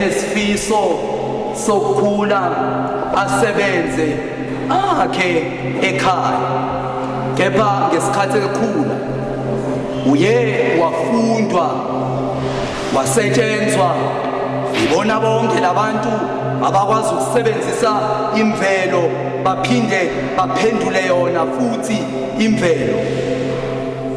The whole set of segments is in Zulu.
esifiso sokukhula asebenze akhe ekhaya kepha ngesikhathi ekhula uye wafundwa wasetshenzwa yibona bonke labantu abakwazi ukusebenzisa imvelo baphinde baphendule yona futhi imvelo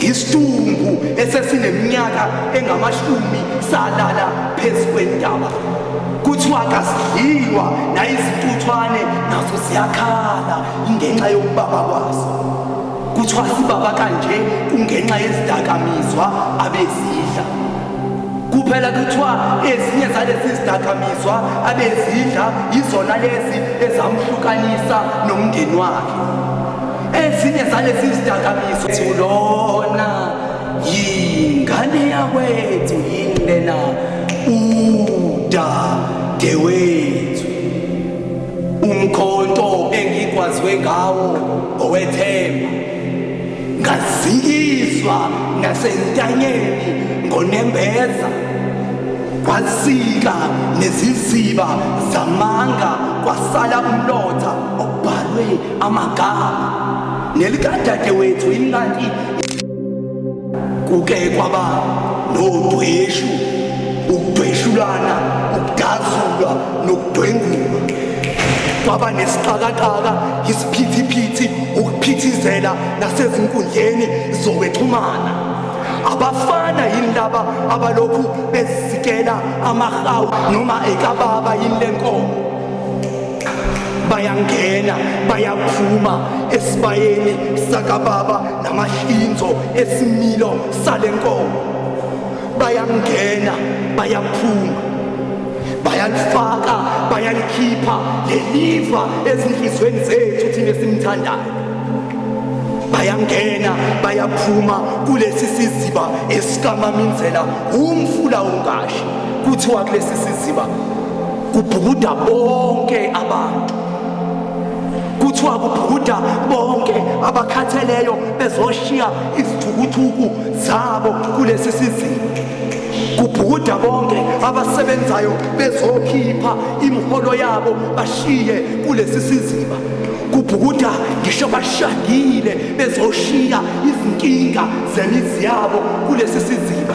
Isidumbu esesineminyaka engamashumi salala phezu kwentaba. Kuthiwa kasidliwa nayizintuthwane nazo siyakhala ngenxa yokubaba kwaso. Kuthiwa sibaba kanje kungenxa yezidakamizwa abezidla. Kuphela kuthiwa ezinye zalezi zidakamizwa abezidla yizona lezi ezamhlukanisa nomndeni wakhe. ezinye zalezi zidakamizwa lona yingane yakwethu yini lena udadewethu umkhonto engikwazwe ngawo owethemba ngazikizwa nasentanyeni ngonembeza kwasika neziziba zamanga kwasala umlotha obhalwe amagama nelikadadewethu imnandi kuke kwaba nodweshu ukudweshulana ukudazulwa nokudwengulwa kwaba nesiqakaqaka isiphithiphithi ukuphithizela nasezinkundleni zokwexhumana abafana yini laba abalokhu bezikela amahawu noma ekababa yini lenkomo bayangena bayaphuma esibayeni sakababa namahlinzo esimilo sale nkomo bayangena bayaphuma bayalifaka bayalikhipha leliva ezinhlizweni zethu thina esimthandayo bayangena bayaphuma kulesi siziba esikamamindlela umfula ungashi kuthiwa kulesi siziba kubhukuda bonke abantu kuthiwa kubhukuda bonke abakhatheleyo bezoshiya izithukuthuku zabo kulesi sizini kubhukuda bonke abasebenzayo bezokhipha imiholo yabo bashiye kulesi siziba kubhukuda ngisho bashagile bezoshiya izinkinga zemizi yabo kulesi siziba